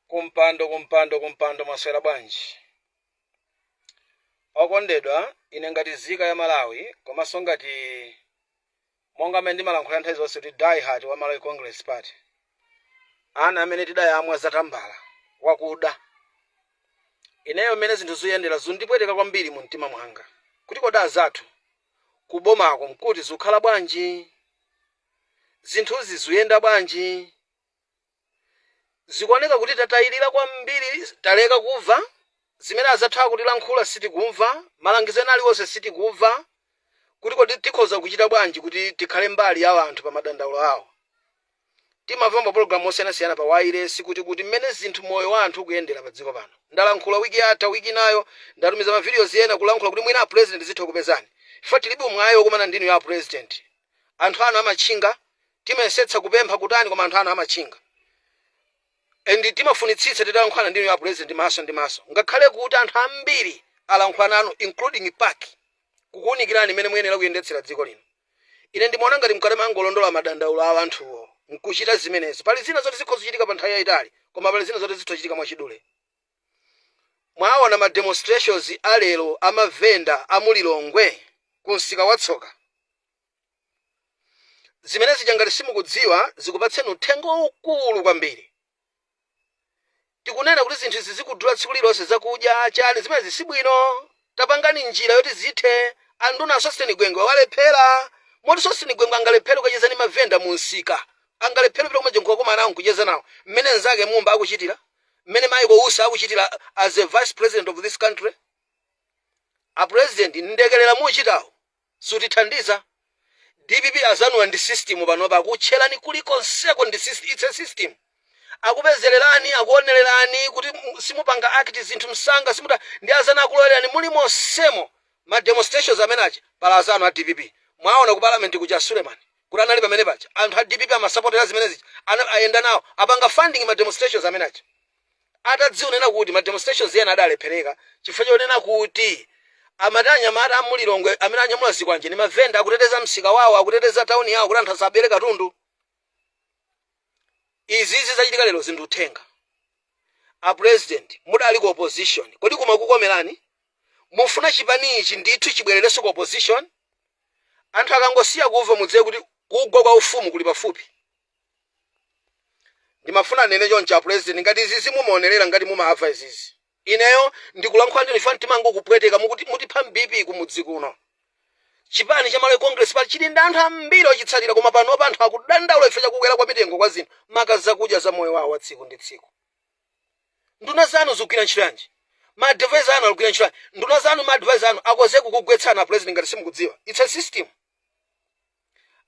kumpando kumpando kumpando mwaswera bwanji okondedwa ine ngati nzika ya malawi komanso ngati monga amene ndimalankhula nthawi zonse kuti die hard wa malawi congress party ana amene tidayamwa zatambala wakuda ineyo mmene zinthu zikuyendera zikundipweteka kwambiri mu mtima mwanga kuti kodi azathu kubomako mkuti zikukhala bwanji Zinthuzi zuyenda bwanji? Zikuoneka kuti tatayilila kwambiri taleka kuva zimene azathu akutilankhula sitikumva malangizo ena aliwonse sitikuva kuti kodi tikhoza kuchita bwanji kuti tikhale mbali ya anthu pa madandaulo awo. Timamva mapologalamu osiyanasiyana pa wailesi kuti kuti mmene zinthu moyo wa anthu ukuyendela pa dziko pano. Ndalankhula wiki yatha wiki inayo ndatumiza ma videos ena kulankhula kuti mwina a president zitha kukupezani chifukwa tilibe umwayi okumana ndi inuyo a president. anthu anu amatchinga timayesetsa kupempha kutani koma anthu anu amatchinga and timafunitsitsa titalankhulana ndi inuyo a president maso ndi maso ngakhale kuti anthu ambiri alankhula nanu including pac kukuunikirani mmene muyenera kuyendetsera dziko lino ine ndimaona ngati mukadamangolondola madandaulo a anthuwo nkuchita zimenezi pali zina zoti zikhoza kuchitika pa nthawi yayitali koma pali zina zoti zitha kuchitika mwachidule Mwaona ma demonstrations a lero a ma venda a mu Lilongwe ku msika wa Tsoka? Zimene zija ngati simukudziwa zikupatseni uthenga waukulu kwambiri. Tikunena kuti zinthu izi zikudula tsiku lililonse zakudya, chani, zimenezi si bwino. Tapangani njira yoti zithe. Anduna Sosten Gwengwe walephera. Moti Sosten Gwengwe angalephere kukacheza ndi ma venda mu msika? Angalephere kupita kumeneko n'kukakumana nawo n'kucheza nawo mmene mnzake Mumba akuchitira? mmene Michael Usi akuchitila as a vice president of this country? a president mlekelera muchitawu sutithandiza. Dpp azanuwa ndi system panopa akutchelani kulikonseko ndi syst its a system. Akupezelelani, akuonelani kuti simupanga act zinthu msanga simuta ndi azanu akulowelerani mulimonsemo. Ma demonstrations amene aja pali azanu a dpp mwaona ku parliament kuja a Sulemani kuti anali pamene paja anthu a dpp amasapotera zimene zija ayenda nawo apanga funding ma demonstrations amene aja atadziwa kunena kuti ma demonstrations ena adalephereka chifukwa chonena kuti amati anyamata a mulilongwe amene anyamula zikwanje ndi mavenda akuteteza msika wawo akuteteza tauni yawo kuti anthu asabere katundu Izizi zachitika lero zili ndi uthenga. A president mudali ku opposition kodi kumakukomerani? Mufuna chipani ichi ndithu chibwererenso ku opposition? Anthu akangosiya kuva mudziwe kuti kugwa kwa ufumu kuli pafupi. Ndimafuna ndinene choncho a president ngati izizi mumaonerera ngati mumava izizi. Ineyo ndikulankhula ndi inu chifukwa mtima wanga ukupweteka. Mutipha m'BP kumudzi kuno. Chipani cha Malawi Congress Party chili ndi anthu ambiri ochitsatira koma panopa anthu akudandaula chifukwa cha kukwera kwa mitengo kwa zinthu maka zakudya za moyo wawo wa tsiku ndi tsiku. Nduna zanu zikugwira ntchito yanji? Ma advisor anu akugwira ntchito yanji? Nduna zanu ma advisor anu akhoza kukugwetsani a President ngati simukudziwa. It's a system.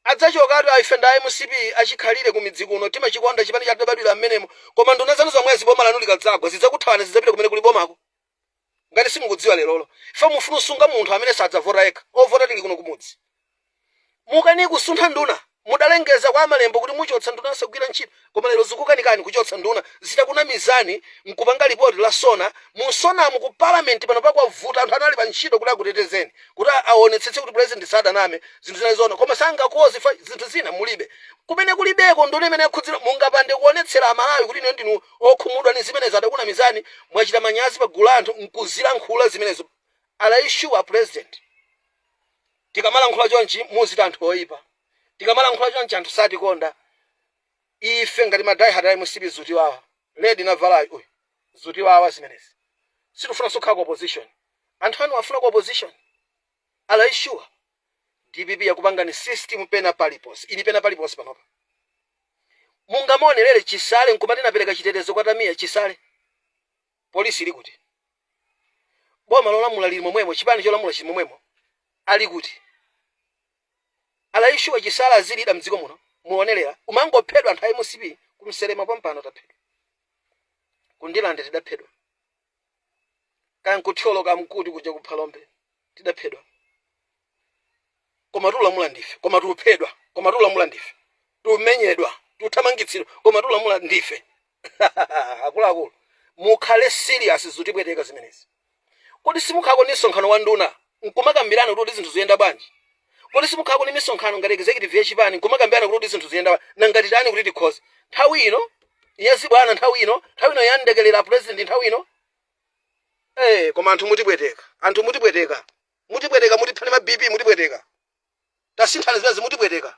Adzachokatu ayi ife ndi a mcp achikhalire kumidzi kuno timachikonda chipani chathu tidabadwira mmenemo koma nduna zanu zomwezi boma lanu likadzagwa zidzakuthawani zidzapita kumene kuli bomako ngati simukudziwa lerolo chifukwa mufuna usunga munthu amene sadzavota yekha ovota tili kuno kumudzi mukani kusuntha nduna mudalengeza kwa amalembo kuti muchotsa nduna yosagwira ntchito koma lero zikukanikani kuchotsa nduna zitakunamizani mkupanga report la sona mu nsonamu ku parliament pano pakwavuta anthu anali pa ntchito kuti akutetezeni kuti a- aonetsetse kuti president sadaname zinthu zinazo zoona koma sangakonze zinthu zina mulibe kumene kulibeko nduna imene yakhudzira mungapande kuonetsera amalawi kuti inu ndinu okhumudwa ni zimenezo adakunamizani mwachita manyazi pa gulu la anthu mkuzilankhula zimenezo are you sure a president tikamalankhula chonchi muzita anthu oyipa Tikamalankhula chonchi anthu satikonda Ife ngati ma die hard a mcp zutiwawa. Lady navalayu uyu zutiwawa zimenezi. Sitikufunanso kukhala ku opposition. Anthu anu afuna ku opposition? Are you sure? Dpp yakupangani system pena paliponse. Ili pena paliponse panopa. Mungamuonerere Chisale nkumati ndinapereka chitetezo kwa Tamia? Chisale? Police ili kuti? Boma lolamula lili momwemo, chipani cholamula chili momwemo. Ali kuti? Are you sure Chisale azilida mdziko muno muonerera kumangophedwa anthu a mcp ku msema pompano taphedwa ku ndilande tidaphedwa kaya nku thyolo kaya mkuti kuja ku phalombe tidaphedwa koma tulamula ndife koma tuphedwa koma tulamula ndife tumenyedwa tuthamangitsidwa koma tulamula ndife akuluakulu mukhale serious zutipweteka zimenezi. Kodi simukhalako ndi msonkhano wa nduna nkumakambirana kuti kodi zinthu zuyenda bwanji? Kodi simukhalako ndi misonkhano ngati executive ya chipani nkumakambirana kuti kodi zinthu zuyenda bwa? Nanga titani kuti tikhoze? Nthawi ino si ya zibwana nthawi ino, nthawi ino si ya ndekerera a president nthawi ino. Eh, koma anthu mutipweteka. Anthu mutipweteka. Mutipweteka mutipha ni ma BP mutipweteka. Tasinthani zimenezi mutipweteka.